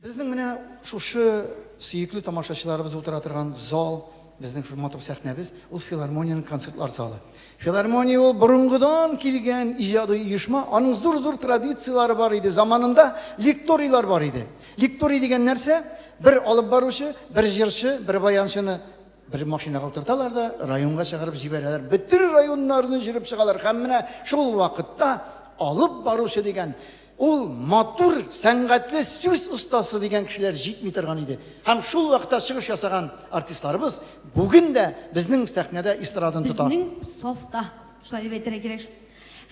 Безнең менә шушы сөекле тамашачыларыбыз утыра торган зал, безнең шул матур сәхнәбез, ул филармониянең концертлар залы. Филармония ул борынгыдан килгән иҗади оешма, аның зур-зур традицияләре бар иде. Заманында лекторийлар бар иде. Лекторий дигән нәрсә? Бер алып баручы, бер җырчы, бер баянчыны бер машинага утырталар да, районга чыгарып җибәрәләр. Бөтен районнарны җөреп чыгалар. Һәм менә шул вакытта алып баручы дигән Ул матур, сәнгатьле сүз остасы дигән кешеләр җитми торган иде. Һәм шул вакытта чыгыш ясаган артистларыбыз бүген дә безнең сәхнәдә эстраданы тота. Безнең сафта, шулай дип әйтергә кирәк.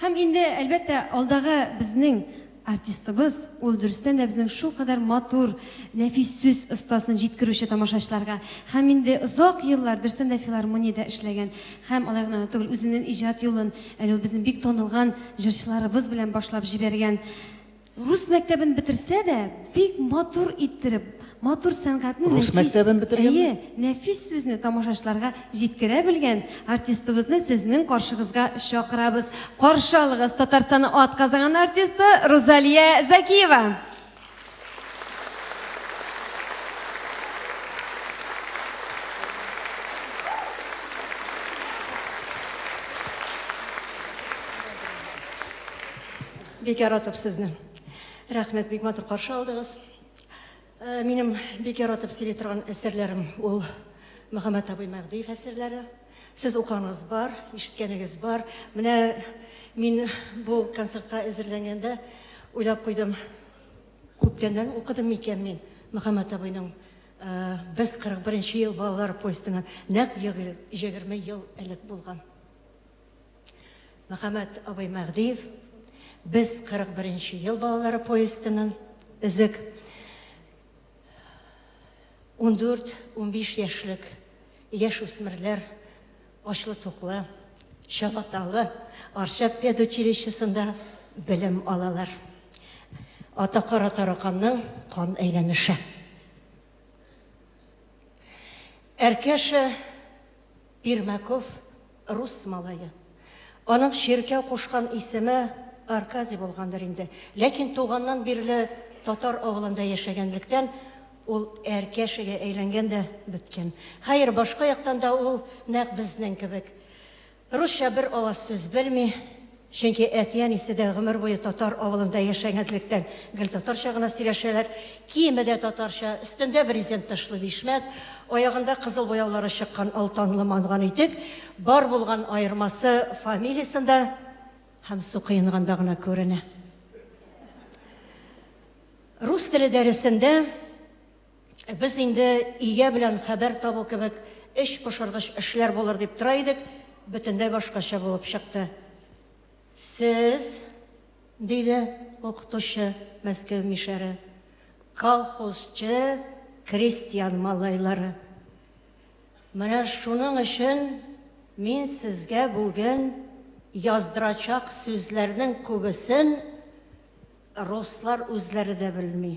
Һәм инде, әлбәттә, алдагы безнең артистыбыз, ул дөрестән дә безнең шулкадәр матур, нәфис сүз остасын җиткерүче тамашачыларга. Һәм инде озак еллар, дөрестән дә, филармониядә эшләгән Һәм алай гына да түгел, үзенен иҗат юлын әле ул безнең бик танылган җырчыларыбыз белән башлап җибәргән. Рус мәктәбен бетерсә дә, бик матур иттереп, матур сәнгатьне Рус нәфис, мәктәбен бетергәнме? әйе, нәфис сүзне тамашачыларга җиткерә белгән артистыбызны сезнең каршыгызга чакырабыз. Каршы алыгыз Татарстанның атказанган артисты Рузалия Закиева! бик яратып сезне рәхмәт бик матур каршы алдыгыз э, минем бик яратып сөйли торган әсәрләрем ул мөхәммәт абый мәгъдиев әсәрләре Сез укуыңыз бар, ишеткәнегез бар. Менә мин бу концертка әзерләнгәндә уйлап куйдым, күптәннән укыдым микән мин Мөхәммәт абыйның Без 41 нче ел балалар поездына нәкъ җегерме ел элек булган. Мөхәммәт абый Мәгъдиев Без 41 нче ел балалары поездының өзек 14-15 яшьлек яшь үсмерләр ачлы-туклы, чабаталы Арча педучилищесында белем алалар. Ата кара тараканның кан әйләнеше. Әркәшә Пермяков, рус малае. Аның чиркәү кушкан исеме Аркадий булгандыр инде. Ләкин туганнан бирле татар авылында яшәгәнлектән, ул Әркәшегә әйләнгән дә беткән. Хәер, башка яктан да ул нәкъ безнең кебек. Русча бер аваз сүз белми. Чөнки әти-әнисе дә гомер буе татар авылында яшәгәнлектән, гел татарча гына сөйләшәләр. Киеме дә татарча, өстендә брезент тышлы бишмәт, аягында кызыл буяулары чыккан алтанлы манган итек. Бар булган аермасы фамилиясендә һәм су коенганда гына күренә. Рус теле дәресендә. Без инде өйгә белән хәбәр табу кебек эч пошыргыч эшләр булыр дип тора идек, бөтенләй башкача булып чыкты. Сез, диде укытучы Мәскәү мишәре, колхозчы крестьян малайлары. Менә шуның өчен мин сезгә бүген яздырачак сүзләрнең күбесен руслар үзләре дә белми.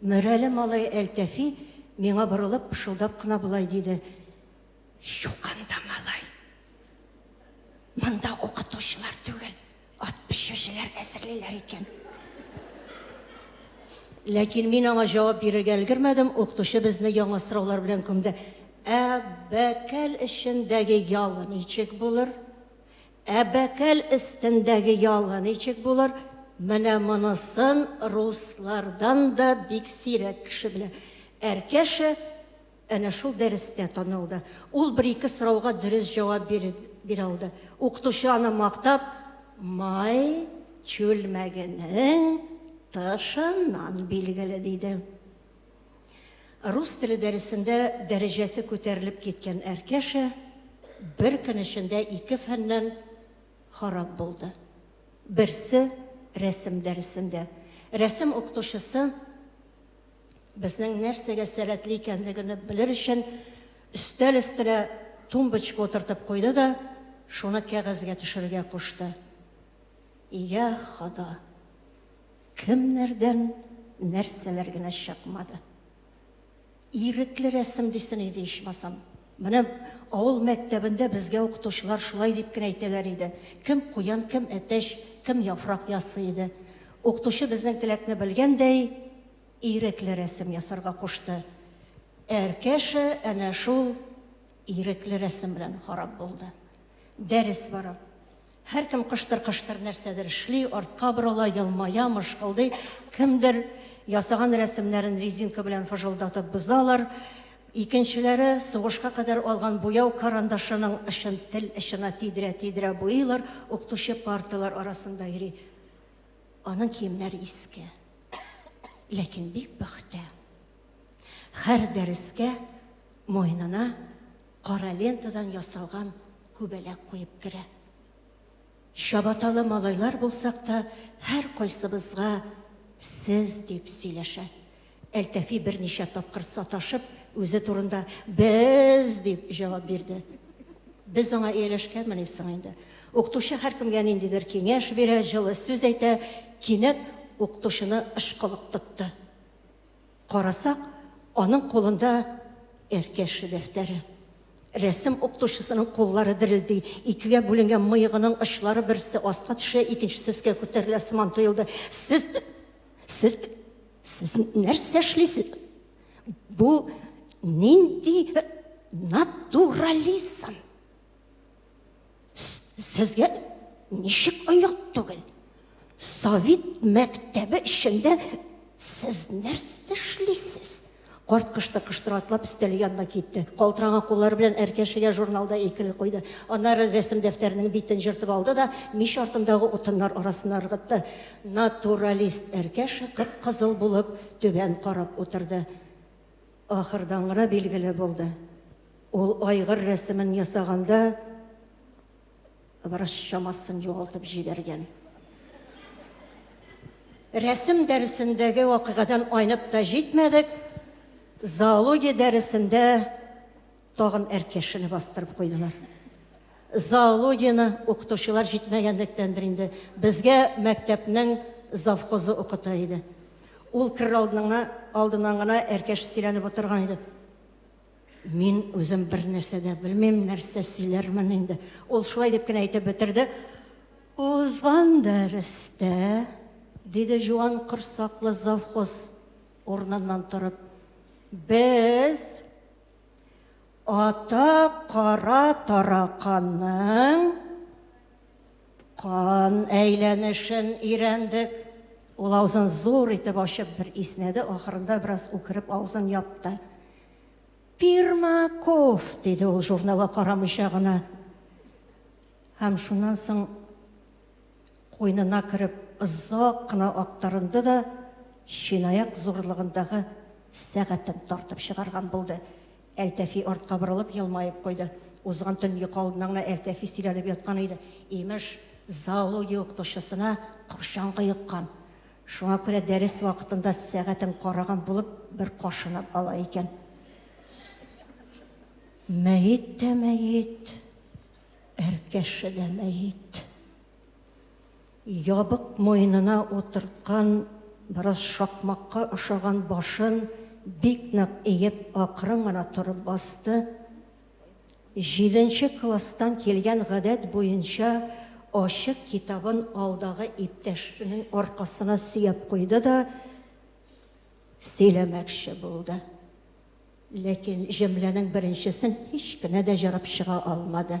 Мөрәле малай Әлтәфи миңа борылып, пышылдап кына болай диде, Юк анда, малай. Монда укытучылар түгел, ат пешүчеләр әзерлиләр икән. Ләкин мин аңа җавап бирергә өлгермәдем, укытучы безне яңа сораулар белән күмде. Ә бәкәл эчендәге ял ничек булыр? Ә бәкәл өстендәге ялы ничек булыр? Менә монысын руслардан да бик сирәк кеше белә. Әркәшә әнә шул дәрестә танылды. Ул бер-ике сорауга дөрес җавап бирә алды. Укытучы аны мактап, Май чүлмәгенең тышыннан билгеле, диде. Рус теле дәресендә дәрәҗәсе күтәрелеп киткән Әркәшә бер көн эчендә ике фәннән харап булды. Берсе, рәсем дәресендә. Рәсем укытучысы безнең нәрсәгә сәләтле икәнлегене белер өчен өстәл өстенә тумбочка утыртып куйды да, шуны кәгазьгә төшерергә кушты. Йә, Хода! Кемнәрдән нәрсәләр генә чыкмады. Ирекле рәсем дисен иде ичмасам. Менә авыл мәктәбендә безгә укытучылар шулай дип кенә әйтәләр иде. Кем куян, кем әтәч, кем яфрак ясый иде. Укытучы безнең теләкне белгәндәй, ирекле рәсем ясарга кушты. Әркәшә әнә шул ирекле рәсем белән харап булды. Дәрес бара. Һәркем кыштыр-кыштыр нәрсәдер эшли, артка борыла, елмая, мышкылдый. Кемдер ясаган рәсемнәрен резинка белән фыжылдатып бозалар. Икенчеләре сугышка кадәр алган буяу карандашының очын тел очына тидерә-тидерә буйыйлар, укытучы парталар арасында йөри. Аның киемнәре иске. Ләкин бик пөхтә. Һәр дәрескә муенына кара лентадан ясалган күбәләк куеп керә. Чабаталы малайлар булсак та, һәркайсыбызга сез дип сөйләшә. Әлтәфи берничә тапкыр саташып, үзе турында без дип җавап бирде. Без аңа ияләшкәнмени соң инде. Укытучы һәркемгә ниндидер киңәш бирә, җылы сүз әйтә, кинәт укытучыны ышкылык тотты. Карасак, аның кулында Әркәше дәфтәре. Рәсем укытучысының куллары дерелди, икегә бүленгән мыегының очлары берсе аска төшә, икенчесе өскә күтәрелә сыман тоелды. Сез сез сез нәрсә эшлисез? Бу нинди натурализм? Сезгә ничек аяк түгел? Совет мәктәбе эчендә сез нәрсә эшлисез? Карт кышты кыштыра атлап өстәл янына китте. Калтыранган куллары белән әркәшегә журналда икеле куйды. Аннары рәсем дәфтәренең битен җыртып алды да мич артындагы утыннар арасына ыргытты. Натуралист әркәше кып-кызыл булып түбән карап утырды. Ахырдан гына билгеле булды. Ул айгыр рәсемен ясаганда бераз чамасын югалтып җибәргән. Рәсем дәресендәге вакыйгадан айнып та җитмәдек, зоология дәресендә тагын әркешене бастырып куйдылар. Зоологияне укытучылар җитмәгәнлектәндер инде, безгә мәктәпнең завхозы укыта иде. Ул керер алдыннан гына әркәш сөйләнеп утырган иде. Мин үзем бер нәрсә дә белмим, нәрсә сөйләрмен инде. Ул шулай дип кенә әйтеп бетерде. Узган дәрестә, диде җуан корсаклы завхоз урыныннан торып, без ата кара тараканның Кан әйләнешен өйрәндек. Ул авызын зур итеп ачып бер иснәде, ахырында бераз үкереп авызын япты. Пирмаков, диде ул журналга карамыйча гына. Һәм шуннан соң куйнына кереп озак кына актарынды да, чынаяк зурлыгындагы сәгатен тартып чыгарган булды. Әлтәфи артка борылып елмаеп куйды. Узган төн йокы алдыннан гына Әлтәфи сөйләнеп яткан иде. Имеш, зоология укытучысына кырчан кыеккан. Шуңа күрә дәрес вакытында сәгатен караган булып бер кашынып ала икән. Мәет тә мәет, әркәше дә мәет. Ябык муенына утырткан бераз шакмакка ошаган башын бик нык иеп акрын гына торып басты. Җиденче класстан килгән гадәт буенча ачык китабын алдагы иптәшенең аркасына сөяп куйды да сөйләмәкче булды. Ләкин җөмләнең беренчесен һич кенә дә җырып чыга алмады.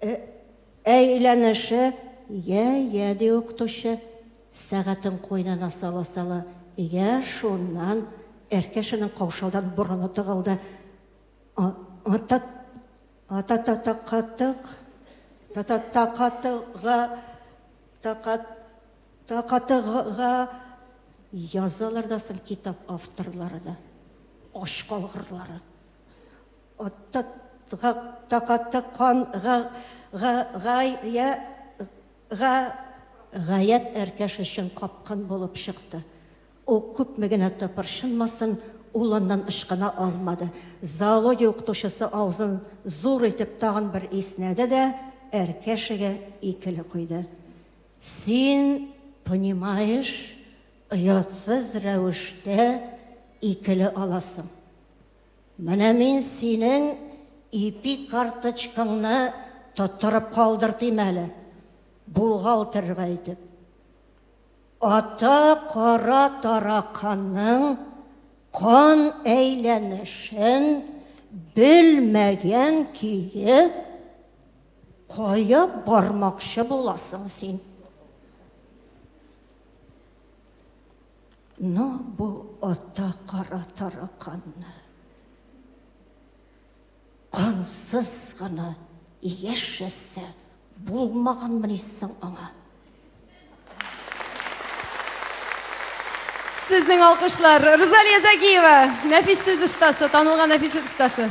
Э, әйләнеше, йә, йә, ди укытучы, сәгатен куенына сала-сала. Йә, шуннан Әркәшенең каушаудан борыны тыгылды. Ата, ата, та та катык, та та та катыга, та та та катыга язалар да соң китап авторлары да. Ач калгырлары. Гаять әркәш өчен капкын булып чыкты. Ул күпме генә тыпырчынмасын, улыннан ычкына алмады. Зоология укытучысы авызын зур итеп тагын бер иснәде дә әркәшегә икеле койды. Син, понимаешь, оятсыз рәвештә икеле аласың. Менә мин синең ипи карточкаңны тоттырып калдыртыйм әле, булгалтырга итеп. Ата кара тараканның кан әйләнешен белмәгән көе кая бармакчы буласың син? Но бу ата кара тараканны кансыз гына яшәсә булмаганмыни соң аңа? Сезнең алкышлар, Рузалия Загиева, нәфис сүз остасы, танылган нәфис сүз остасы.